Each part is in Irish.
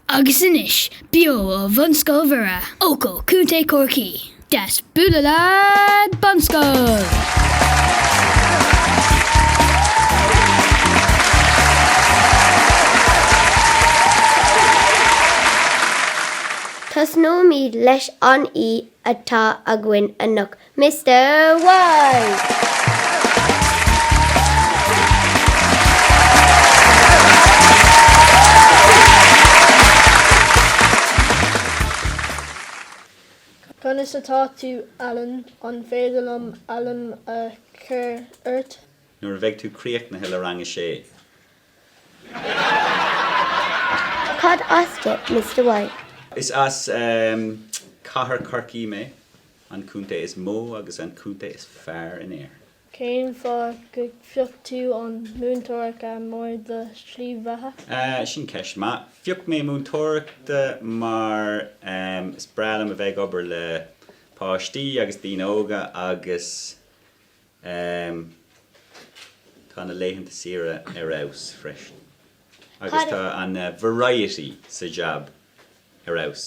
Agus anois, beo ó Bhunscoil Mhuire, Eochaill, Co. Chorcaí, deas bualadh leat Bunscoil! Tosnóimid leis an aoi atá againn anocht Mister White! Conas atá tú, Alan? An féidir liom Alan a thabhairt ort? Nuair a bheidh tú críochnaithe le Rang a Sé. Cad as duit, Mister White? Is as Cathair Chorcaí mé. An contae is mó agus an contae is fearr in Éirinn. Cén fáth gur phioc tú an múinteoireacht mar do shlí bheatha? Ah, sin ceist maith. Phioc mé múinteoireacht mar is breá liom a bheith ag obair le páistí agus daoine óga agus tá na laethanta saoire ar fheabhas freisin agus tá an variety sa jab ar fheabhas.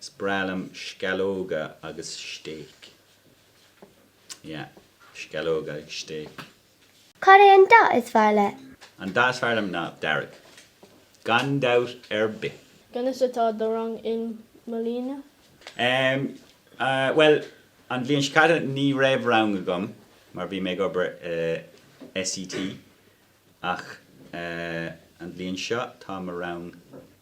Is breá liom sceallóga agus stéic. Yeah, sceallóga agus stéic. Cad é an dath is fearr leat? An dath is fearr liom ná dearg, gan dabht ar bith. Conas atá do rang i mbliana? Em, eh, bhuel, an bhliain seo caite ní raibh rang agam mar bhí mé ag obair i SET ach, eh, an bhliain seo tá mo rang.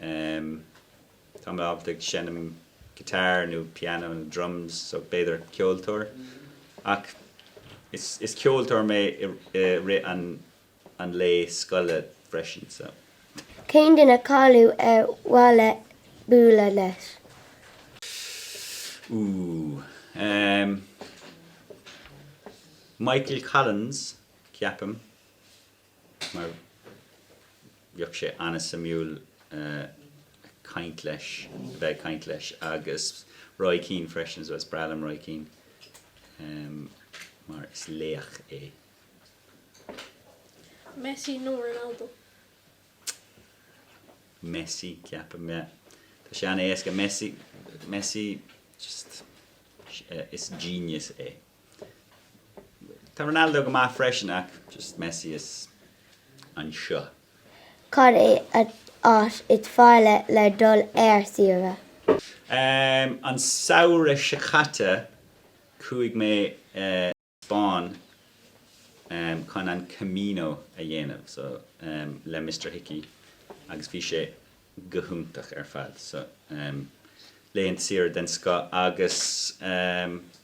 Em, Tá mé ábalta ag seinm guitar nó piano nó drums, so b'fhéidir ceoltóir. Ach is is ceoltóir mé i i rith an an lae scoile freisin, so. Cén duine cáiliúil ar mhaith leat bualadh leis? Ooh, em, Michael Collins, ceapaim. mar bheadh sé an-suimiúil caint leis, a bheith ag caint leis agus Roy Keane freisin so, is breá liom Roy Keane mar is laoch é. Messi nó Ronaldo? Messi ceapaim, yeah. Tá sé an-éasca Messi, Messi just eh, is genius é. Tá Ronaldo go maith freisin ach just Messi is anseo. Cad é an áit is fearr le dul ar saoire? An samhradh seo caite chuaigh mé sa Spáinn chun an Camino a dhéanamh so le Mister Hickey agus bhí sé go hiontach ar fad so b'in saoire den scoth agus.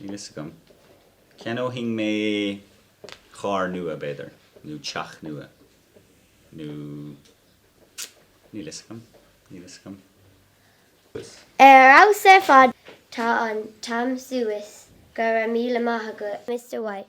Níl fhios agam. Cheannóinn mé carr nua, b'fhéidir, nó teach nua, nó. níl fhios agam, níl fhios agam. Ar fheabhas ar fad! Tá an t-am suas, go raibh míle maith agat Mr White.